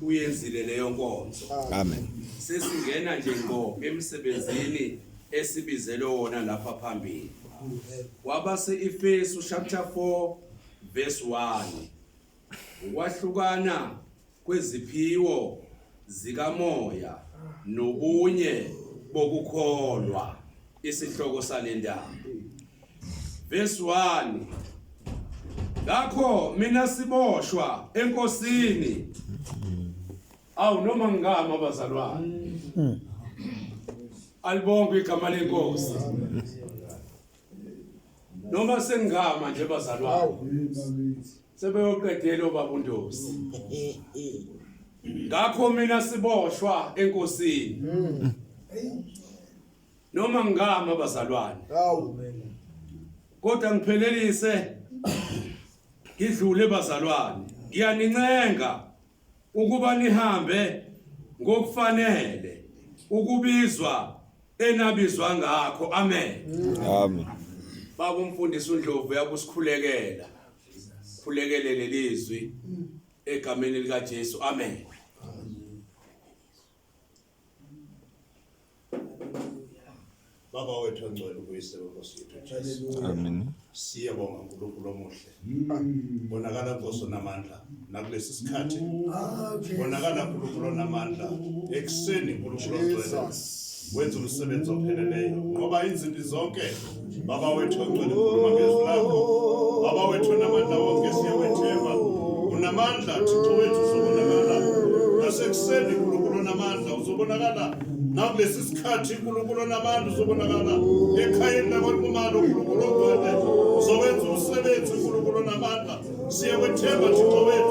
uyenzile leyo nkonzo amen sesingena nje ngo emsebenzini esibizelwe wona lapha phambili wabase Efesu chapter 4 verse 1 ukwahlukana kweziphiwo zikamoya nobunye bokukholwa isihloko salendaba verse 1 ngakho mina siboshwa enkosini awu noma ngingama bazalwane alibonke igama lenkosi noma sengama nje bazalwane sebeyoqedela obaba uNdosi ngakho mina siboshwa enkosini noma ngama bazalwane hawu kodwa ngiphelelise ngidlule bazalwane ngiyanincenga ukuba nihambe ngokufanele ukubizwa enabizwa ngakho amen amen baba umfundisi uNdlovu yakusikhulekela khulekele lelizwi egameni lika Jesu amen Baba wethu ongcwele ukuyise wenkosi yethu Jesu. Amen. Siyabonga uNkulunkulu omuhle. Mm. Bonakala Nkosi onamandla nakulesi sikhathi. Ah, Bonakala uNkulunkulu onamandla ekuseni uNkulunkulu ongcwele. Wenza umsebenzi opheleleyo ngoba izinto zonke Baba wethu ongcwele ukhuluma ngezwi lakho. Baba wethu namandla wonke siyawethemba. Unamandla Thixo wethu uzobonakala. Nasekuseni uNkulunkulu namandla uzobonakala. Nakulesi sikhathi uNkulunkulu namandla uzobonakala. Ekhayeni lakwaNkumalo uNkulunkulu ongcwele uzowenza umsebenzi uNkulunkulu namandla. Siyawethemba Thixo wethu.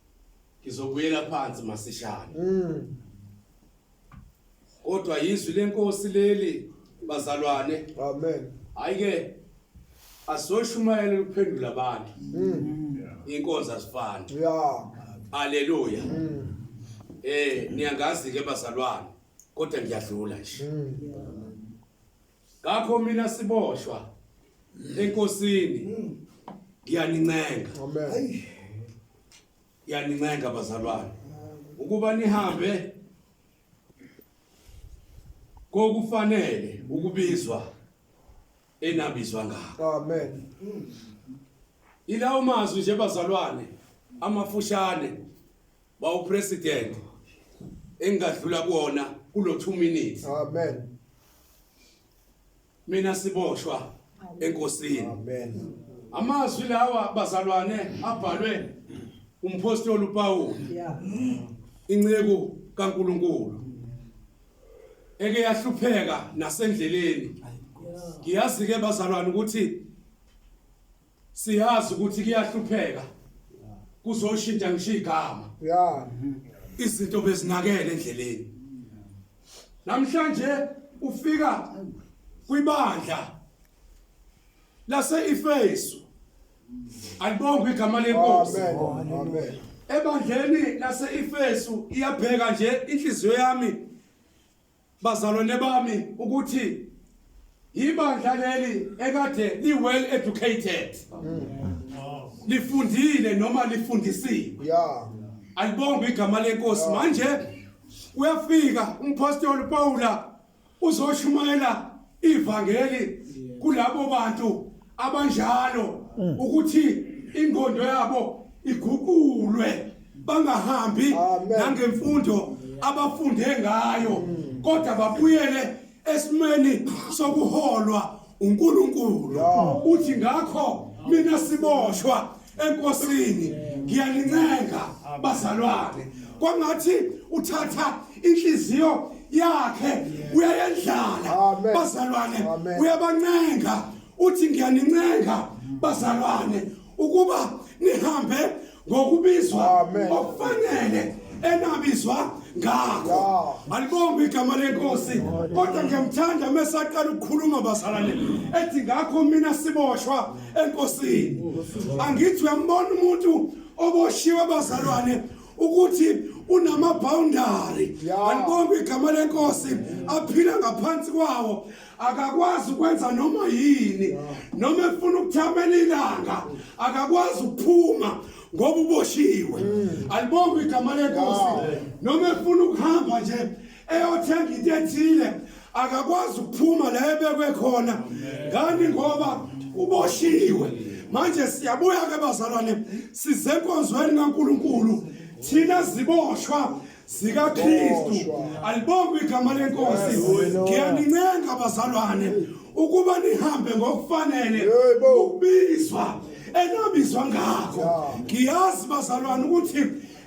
Ngizobuyela phansi masishane. Mm. Kodwa yizwi lenkosi leli bazalwane. Amen. Hayike asoshumayela ukuphendula abantu. Mm. Inkonzo asifani. Yeah. Hallelujah. Mm. Eh niyangazi ke bazalwane kodwa ngiyadlula nje. Mm. ngakho mina siboshwa enkosini mm. ngiyanincenga amen ngiyanincenga bazalwane ukuba nihambe kokufanele ukubizwa enabizwa ngakho amen ilawo mazwi nje bazalwane amafushane bawupresident engadlula kuona kulo 2 minutes amen mina siboshwa enkosini amen amazwi lawa bazalwane abhalwe umpostoli uPawulu inceku kaNkuluNkulu eke yahlupheka nasendleleni ngiyazi ke bazalwane ukuthi siyazi ukuthi kuyahlupheka kuzoshintsha ngisho igama yeah izinto bezinakele endleleni namhlanje ufika kwibandla lase ifesu alibonga igama lenkosi amen amen ebandleni lase ifesu iyabheka nje inhliziyo yami Bazalwane bami ukuthi ibandla leli ekade li well educated. Lifundile noma lifundisiwe. Yeah. Alibonga igama lenkosi manje uyafika umpostoli Pawula uzoshumayela ivangeli kulabo bantu abanjalo mm. ukuthi ingondo yabo iguqulwe bangahambi nangemfundo abafunde ngayo mm. kodwa babuyele esimeni sokuholwa uNkulunkulu uthi ngakho mina siboshwa enkosini ngiyalincenga bazalwane kwangathi uthatha inhliziyo yakhe uyayendlala bazalwane uyabancenga uthi ngiyanincenga bazalwane ukuba nihambe ngokubizwa okufanele enabizwa ngakho alibonge igama lenkosi kodwa ngiyamthanda mesaqala ukukhuluma basalane ethi ngakho mina siboshwa enkosini angithi uyambona umuntu oboshiwe abazalwane ukuthi unamabhawundari anibonke igama lenkosi aphila ngaphansi kwawo akakwazi ukwenza noma yini noma efuna ukuthamela ilanga akakwazi ukuphuma ngoba uboshiwe mm. alibonge igama lenkosi noma efuna ukuhamba nje eyothenga into ethile akakwazi ukuphuma la ebekwe khona ngani ngoba uboshiwe manje siyabuya ke bazalwane size enkonzweni kaNkuluNkulu thina ziboshwa zikaKristu alibonga igama lenkosi ngiyanincenga bazalwane ukuba nihambe ngokufanele ukubizwa enabizwa ngakho ngiyazi bazalwane ukuthi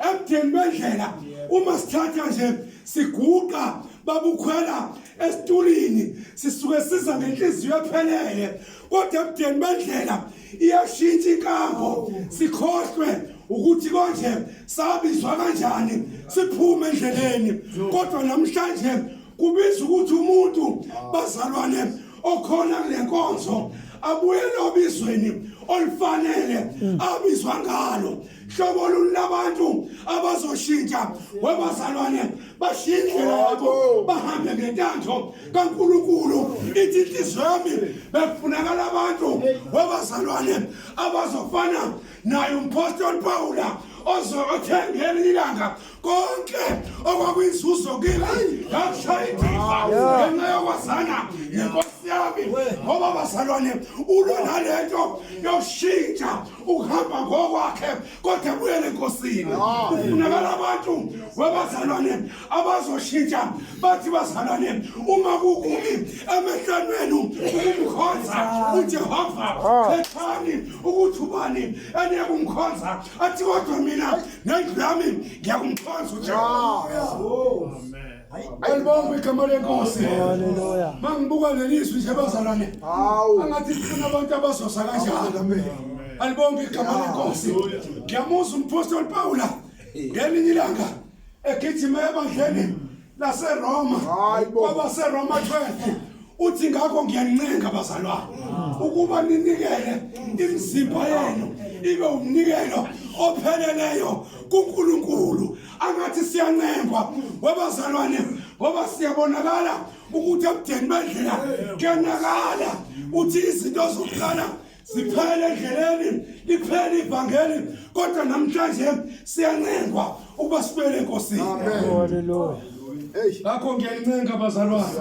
ebudeni bendlela uma sithatha nje siguqa babukhwela esitulini sisuke siza ngenhliziyo ephelele kodwa ebudeni bendlela iyashintsha inkambo sikhohlwe ukuthi konje sabizwa kanjani siphume endleleni kodwa namhlanje kubiza ukuthi umuntu bazalwane okhona kule nkonzo abuyele obizweni olufanele mm. abizwa ngalo hlobo lulabantu abazoshintsha webazalwane bashiye indlela yabo bahambe ngentanzo kaNkuluNkulu ithi inhliziyo yami bekufunakala abantu webazalwane abazofana naye umpostoli Pawula ozothengela ilanga konke okwakuyinzuzo kimi ngakushaya indiva ngenxa yokwazana nenkosi yami ngoba bazalwane ulwa nalento yokushintsha ukuhamba ngokwakhe kodwa buyele enkosini kufunakala abantu webazalwane abazoshintsha bathi bazalwane uma kukubi emehlweni wenu ukumkhonza ujehova khethani ukuthi ubani eniye kumkhonza athi kodwa mina Nami nami ngiyakumkhonza uJehova. Alibonga igama lenkosi. Haleluya. Mangibuka lelizwi nje bazalwane. Hawu. Angathi sifuna abantu abazosa kanjalo. Alibonga igama lenkosi. Ngiyamuzwa umphostoli Pawula ngelinye ilanga egijima ebandleni laseroma kwabaseroma 12 uthi ngakho ngiyanincenga bazalwane ukuba ninikele imizimba yenu ibe umnikelo opheleleyo kuNkulunkulu angathi siyancengwa wabazalwane ngoba siyabonakala ukuthi ebudeni bendlela kuyanakala uthi izinto zokuqala siphele endleleni liphele ivangeli kodwa namhlanje siyancengwa ukuba sibuyele enkosini ngakho ngiyanincenga bazalwane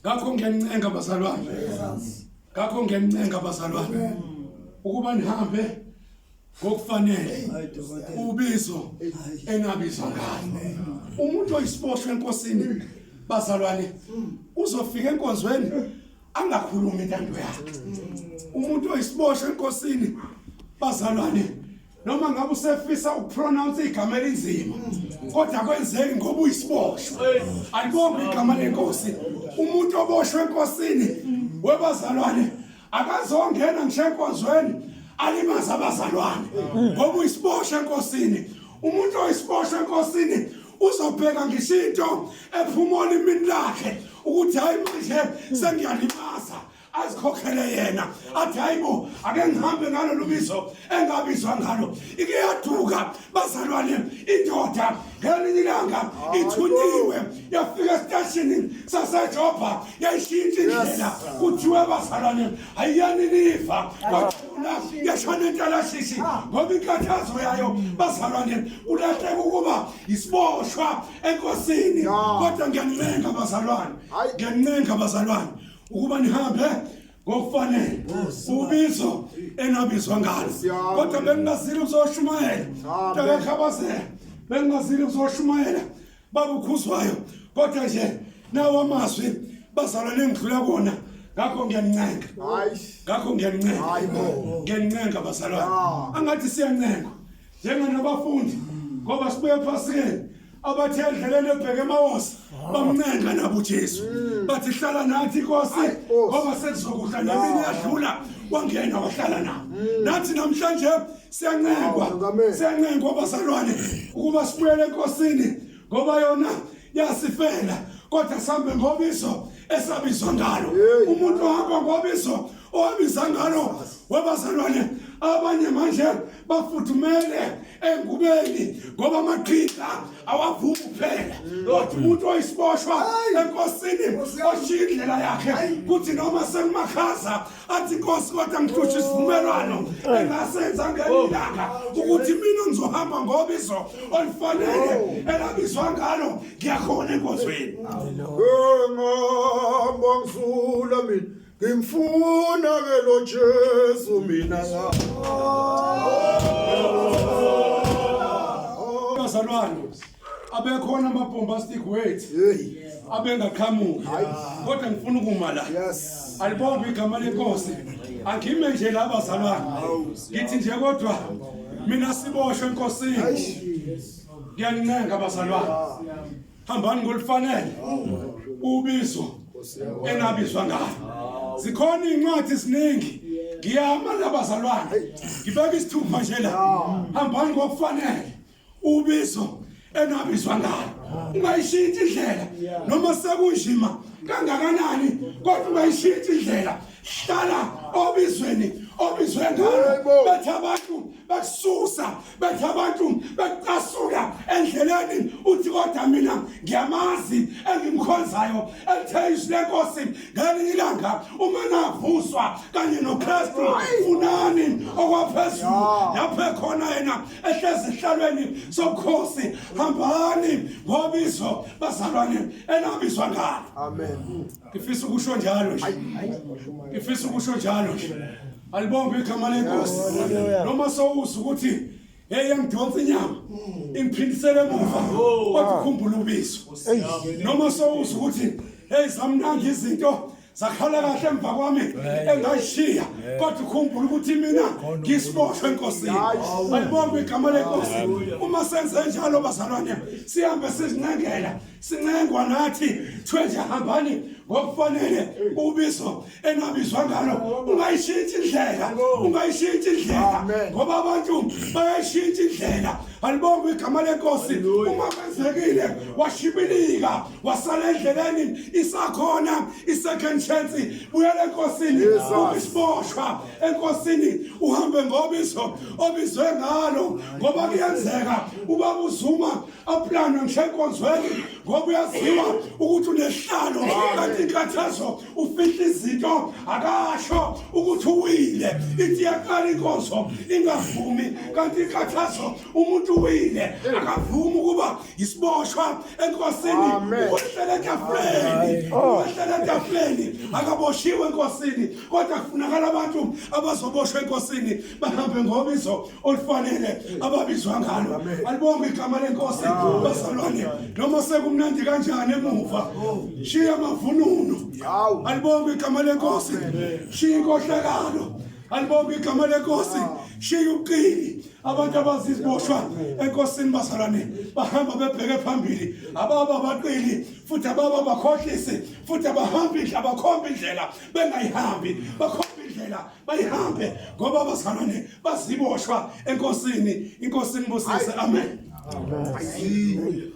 ngakho ngiyanincenga bazalwane ngakho ngiyanincenga bazalwane ukuba nihambe ngokufanele ubizo engabizwa ngalo umuntu oyisiboshwe enkosini bazalwane uzofika enkonzweni angakhulumi intando yakhe umuntu oyisiboshwe enkosini bazalwane noma ngabe usefisa ukupronounce igama elinzima kodwa kwenzeki ngoba uyisiboshwe alibonga igama lenkosi umuntu oboshwe enkosini webazalwane akazongena ngisho enkonzweni alimaze abazalwane ngoba uyisibosha enkosini umuntu oyisibosha enkosini uzobheka ngisho into ephuma olimini lakhe ukuthi hayi manje sengiyalimaza azikhokhele yena athi hayibo ake ngihambe ngalolu bizo engabizwa ngalo ike yaduka bazalwane indoda ngelinye ilanga ithunyiwe yafika esiteshini sasejobha yayishintsha indlela kuthiwe bazalwane ayiyani niva kwathuna yashona intalashishi ngoba inkathazo yayo bazalwane kulahleka ukuba isiboshwa enkosini kodwa ngiyanincenga bazalwane ngiyanincenga bazalwane ukuba nihambe ngokufanele ubizo enabizwa ngalo kodwa bengingazile ukuzoshumayela takakhabazela bengingazile ukuzoshumayela babukhuzwayo kodwa nje nawo amazwi bazalwane engidlula kona ngakho ngiyancenga ngakho ngiyancenga ngiyancenga bazalwane angathi siyancenga njengenabafundi ngoba sibuye ephasikeni abathe endleleni ebheke emawonsi bamncenga nabo ujesu bathi hlala nathi inkosi ngoba sekuzokudla nemini yadlula wangena wahlala nabo nathi namhlanje siyancengwa siyancengwa abazalwane ukuba sibuyele enkosini ngoba yona yasifela kodwa sambe ngobiso esabizwa ngalo umuntu ohamba ngobiso owabiza ngalo wabazalwane abanye manje bafuthumele engubeni ngoba amaqhinga awavumi kuphela kodwa umuntu oyisiboshwa enkosini oshiya indlela yakhe kuthi noma sekumakhaza athi inkosi kodwa ngihlutsha isivumelwano oh. engasenza ngelilanga oh. ukuthi mina ngizohamba ngobizo olifanele oh. elabizwa ngalo ngiyakhona enkozweni ngihamba ngisula mina Ngimfuna ke lo Jesu mina la. Bazalwane abekhona ama bombastic words abengaqhamuki kodwa ngifuna ukuma la. Alibonge igama lenkosi. Angime nje la bazalwane. Ngithi nje kodwa mina siboshwe enkosini. Ngiyanincenga bazalwane. hambani ngolifanele ubizo engabizwa ngalo zikhona izincwadi eziningi ngiyama labazalwane ngibeka isithupha nje la hambani ngokufanele ubizo enabizwa ngalo ungayishintsha indlela noma sekunjima kangakanani kodwa ungayishintsha indlela hlala obizweni obizwe ngalo bethi abantu bekususa bethi abantu bekucasuka endleleni uthi kodwa mina ngiyamazi engimkhonzayo elithe izwi lenkosi ngelinye ilanga uma navuswa kanye nokristu funani okwaphezulu lapho ekhona yena ehlezi ehlalweni sobukhosi hambani ngobizo bazalwane enabizwa ngalo amen ngifisa ukusho njalo nje ngifisa ukusho njalo nje alibonge igama lenkosi noma sowuza ukuthi hey yangidonsa inyama ingiphindisele emuva kodwa ukhumbula ubizo noma sowuza ukuthi hey zamnandi izinto zakhala kahle emva kwami engayishiya kodwa ukhumbula ukuthi mina ngisiboshwe enkosini ayibonge igama lenkosi uma senze njalo bazalwane sihambe sizincengela sincengwa nathi kuthiwe nje hambani ngokufanele ubizo enabizwa ngalo ungayishintshi indlela ungayishintshi indlela ngoba abantu bayayishintsha indlela alibonga igama lenkosi uma kwenzekile washibilika wasala endleleni isakhona i-second chance buyela enkosini ubisiboshwa enkosini uhambe ngobizo obizwe ngalo ngoba kuyenzeka ubaba uzuma apulanwe ngisenkonzweni ngoba uyaziwa ukuthi unehlalo kanti inkathazo ufihla izinto akasho ukuthi uwile ithi yakala inkonzo ingavumi kanti inkathazo umuntu uwile akavumi ukuba yisiboshwa enkosini uhlele etafuleni uhlele etafuleni akaboshiwe enkosini kodwa kufunakala abantu abazoboshwa enkosini bahambe ngobizo olufanele ababizwa ngalo alibonge igama lenkosi bazalwane noma sekumnandi kanjani emuva shiya amavununo alibonge igama lenkosi shiya inkohlakalo alibonge igama lenkosi shiya uqini abantu abaziziboshwa enkosini bazalwane bahamba bebheke phambili ababa baqili futhi ababa bakhohlisi futhi abahamba indlela bakhomba indlela bengayihambi bakhomba indlela bayihambe ngoba abazalwane baziboshwa enkosini inkosini busise amen, amen. amen.